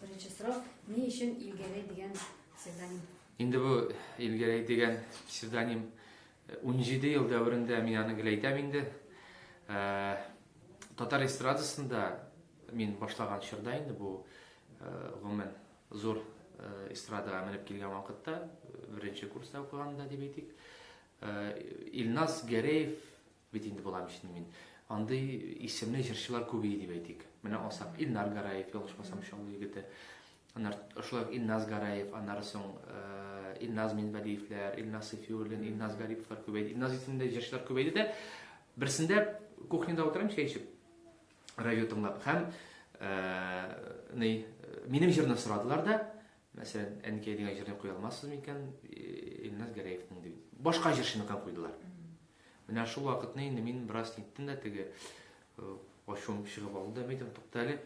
Беренче сорау, ни өчен Илгәрәй дигән псевдоним? Инде бу Илгәрәй дигән псевдоним 17 э, ел дәверендә мин аны гел әйтәм инде. Э, татар эстрадасында мин башлаган чорда инде бу э, гомумән зур эстрадага менеп килгән вакытта, беренче курста укыганда дип әйтик. Илназ Гәрәев Бит инде болар өчен мин. Андый исемле җырчылар күбее дип әйтик. Менә алсак, Илнар Гараев, ялгышмасам, Чаллы егете. Аннар шулай ук Илназ Гараев, аннары соң э, Илназ Минбәдиевләр, Илназ Сафиуллин, Илназ Гариповлар күбәйде. Илназ исемле җырчылар күбәйде дә. Берсендә кухняда утырам чәй эчеп, радио тыңлап һәм э, ни, э, минем җырны сорадылар да, Мәсәлән, Әнкәй дигән җырны куя алмассыз микән, Илназ Гәрәевның дип. Башка җырчыны кан куйдылар. Менә шул вакытны инде мин бераз ниттем дә теге ачуым чыгып алды да, мәйтәм, тукта әле,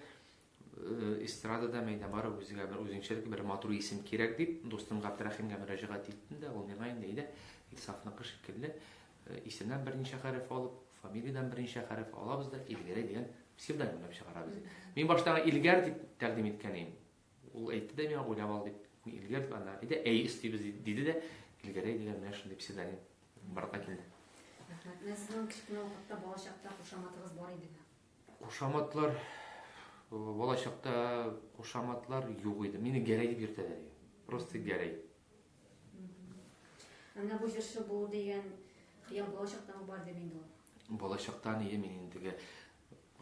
эстрадада мәйдә бар, үзгә бер үзенчәлекле бер матур исем кирәк дип, дустым Габдрәхимгә мөрәҗәгать иттем дә, ул миңа инде әйдә, Илсафныкы шикелле, исемнән берничә хәреф алып, фамилиядән берничә хәреф алабыз да, Илгәрәй дигән псевдонимләп чыгарабыз. Мин башта Илгәр дип тәкъдим иткән идем. Ул әйтте дә миңа, уйлап ал дип, мин Илгер дип, аннан әйтә, әй өстибез диде дә, Илгәрәй дигән менә шундый псевдоним барлыкка килде. Рәхмәт. Менә сезнең кечкенә вакытта балачакта кушаматыгыз бар идеме? Кушаматлар балачакта кушаматлар юк иде. Мине Гәрәй дип йөртәләр иде. Просто Гәрәй. Менә бу җырчы булу дигән хыял балачактан бар дип инде ул. Балачактан иде мин инде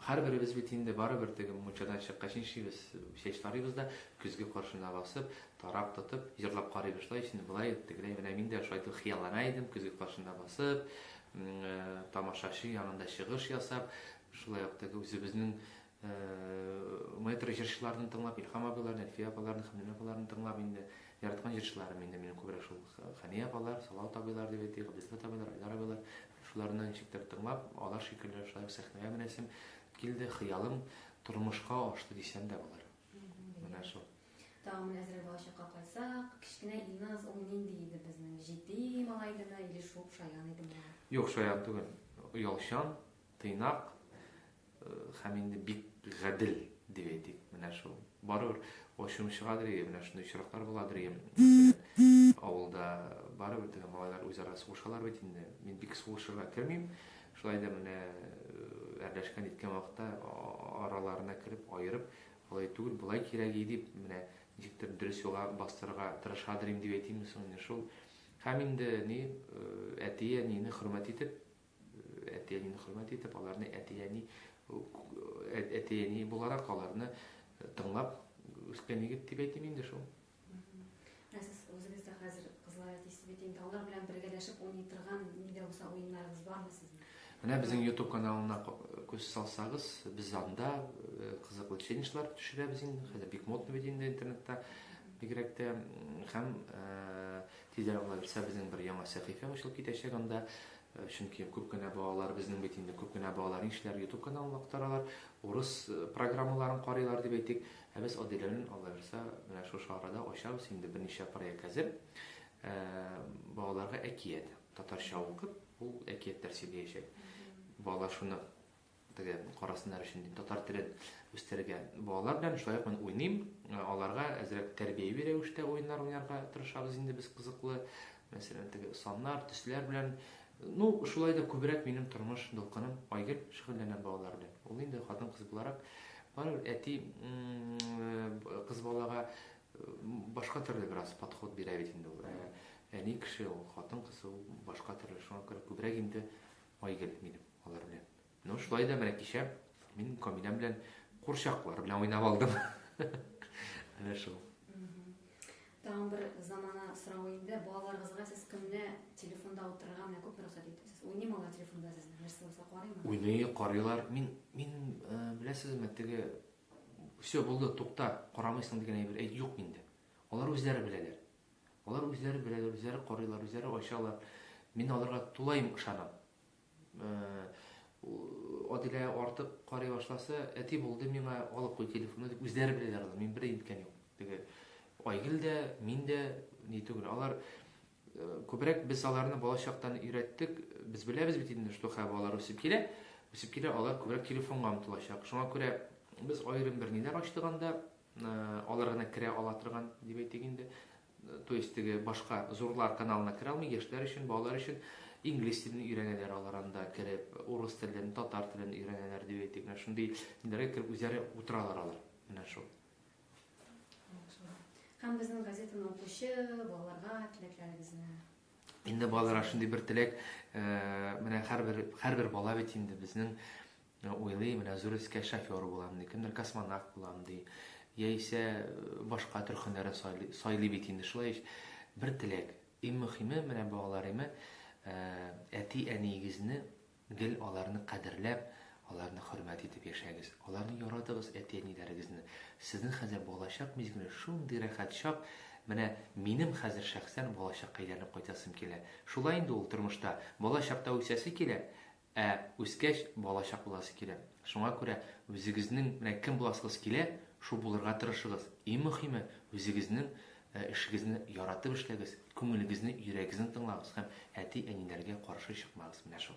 Һәрберебез бит инде барыбер теге мунчадан чыккач нишибез, чәч тарыйбыз да, көзге каршына басып, тарак тотып, җырлап карыйбыз да, исне болай ит, тегеләй, менә мин дә шайтып хыяллана идем, көзге каршында басып, тамашачы янында чыгыш ясап, шулай ук теге үзебезнең метро җырчыларны тыңлап, Илһам абыйларны, Әлфия апаларны, Хәмдүнә апаларны тыңлап инде, яраткан җырчыларым инде минем күбрәк шул Хәния апалар, Салават абыйлар дип әйтик, Габделфәт абыйлар, Айдар абыйлар, Шуларны ничектер тыңлап, алар шикелле шулай ук сәхнәгә менәсем килде, хыялым тормышка ашты дисәм дә булыр. Менә шул. Тагын менә әзрәк балачакка кайтсак, кечкенә Илназ ул нинди иде безнең? Җитди малай идеме или шуып шаян идеме? Юк, шаян түгел. Оялчан, тыйнак, Һәм инде бик гадел, дип әйтик, менә шул. Барыбер ачуым чыгадыр ие, менә шундый очраклар буладыр ие, мәсәлән, авылда барыбер теге малайлар үзара сугышалар бит инде. Мин бик сугышырга кермим, шулай да менә әрләшкән иткән вакытта араларына кереп, аерып, алай түгел, болай кирәк ие дип, менә ничектер дөрес юлга бастырырга тырышадыр идем дип әйтимме соң, менә шул. Һәм инде ни, әти-әнине хөрмәт итеп, Әти-әнине хөрмәт итеп, аларны әти-әни әти-әни буларак аларны тыңлап үскән егет дип әйтим инде шул. Ә сез үзегез дә хәзер кызлар әтисе бит инде, алар белән бергәләшеп уйный торган ни дә булса уеннарыгыз бармы сезнең? Менә безнең YouTube каналына күз салсагыз, без анда э, кызыклы челленджлар төшерәбез инде. Хәзер бик модно бит инде интернетта бигрәк тә һәм э, Тизрәк генә булса безнең бер яңа сәхифә ачылып китәчәк анда, чөнки күп кенә балалар, безнең бит инде күп кенә балалар нишләр, ютуб каналын актаралар, урыс программаларын карыйлар дип әйтик, ә без Аделәнен Алла бирса менә шушы арада ачабыз, инде берничә проект әзер, балаларга әкият татарча укып ул әкиятләр сөйләячәк, балалар шуны Теге карасыннар өчен дим, татар телен үстерергә. Балалар белән шулай ук мин уйныйм. Аларга әзрәк тәрбияви рәвештә уеннар уйнарга тырышабыз инде без кызыклы. Мәсәлән, теге саннар, төсләр белән. Ну, шулай да күбрәк минем тормыш дулкыным Айгөл шөгыльләнә балалар белән. Ул инде хатын-кыз буларак барыбер әти кыз балага башка төрле бераз подход бирә бит инде ул. Әни кеше ул, хатын кыз ул башка төрле. Шуңа күрә күбрәк инде Айгөл минем. Алар белән. Ну, шулай да менә кичә мин Камилә белән курчаклар белән уйнап алдым. Менә шул. Тагын бер замана сорау инде. Балаларыгызга сез көнне телефонда утырырга менә күп рөхсәт итәсез. Уйныймы алар телефонда сез? Нәрсә булса карыймы? Уйный, карыйлар. Мин мин э, беләсезме, теге все булды, тукта, карамыйсың дигән әйбер әйт юк миндә. Алар үзләре беләләр. Алар үзләре беләләр, үзләре карыйлар, үзләре ачалар. Мин аларга тулаем ышанам. Адилә артык карый башласа, әти булды миңа, алып куй телефонны дип үзләре беләләр аны, мин бер әйткән юк. Теге Айгөл дә, мин дә ни түгел. Алар күбрәк без аларны балачактан өйрәттек. Без беләбез бит инде, что хә балалар үсеп килә, үсеп килә, алар күбрәк телефонга омтылачак. Шуңа күрә без аерым бер ниләр ачтык анда, алар гына керә ала торган, дип әйтик инде. То есть теге башка зурлар каналына керә алмый, яшьләр өчен, балалар өчен инглиз телен өйрәнәләр алар анда кереп, урыс телен, татар телен өйрәнәләр дип әйтик. Менә шундый ниләргә кереп үзләре утыралар алар. Менә шул. Һәм безнең газетаны укучы балаларга теләкләрегезне Инде балаларга шундый бер теләк, э, менә һәрбер һәрбер бала бит инде безнең Уйлый, менә зур өскә шофер булам ди, кемдер космонавт булам ди, яисә башка төр һөнәре сайлый бит инде, шулай ич. Бер теләк, иң мөхиме, менә балалар име, әти-әниегезне гел аларны кадерләп, аларны хөрмәт итеп яшәгез. Аларны яратыгыз, әти-әниләрегезне. Сезнең хәзер балачак мизгеле шундый рәхәт чак, менә минем хәзер шәхсән балачакка әйләнеп кайтасым килә. Шулай инде ул тормышта, балачакта үсәсе килә, Ә үскәч балачак буласы килә. Шуңа күрә үзегезнең менә кем буласыгыз килә, шул булырга тырышыгыз. Иң мөхиме, үзегезнең эшегезне яратып эшләгез, күңелегезне, йөрәгезне тыңлагыз һәм әти-әниләргә каршы чыкмагыз. Менә шул.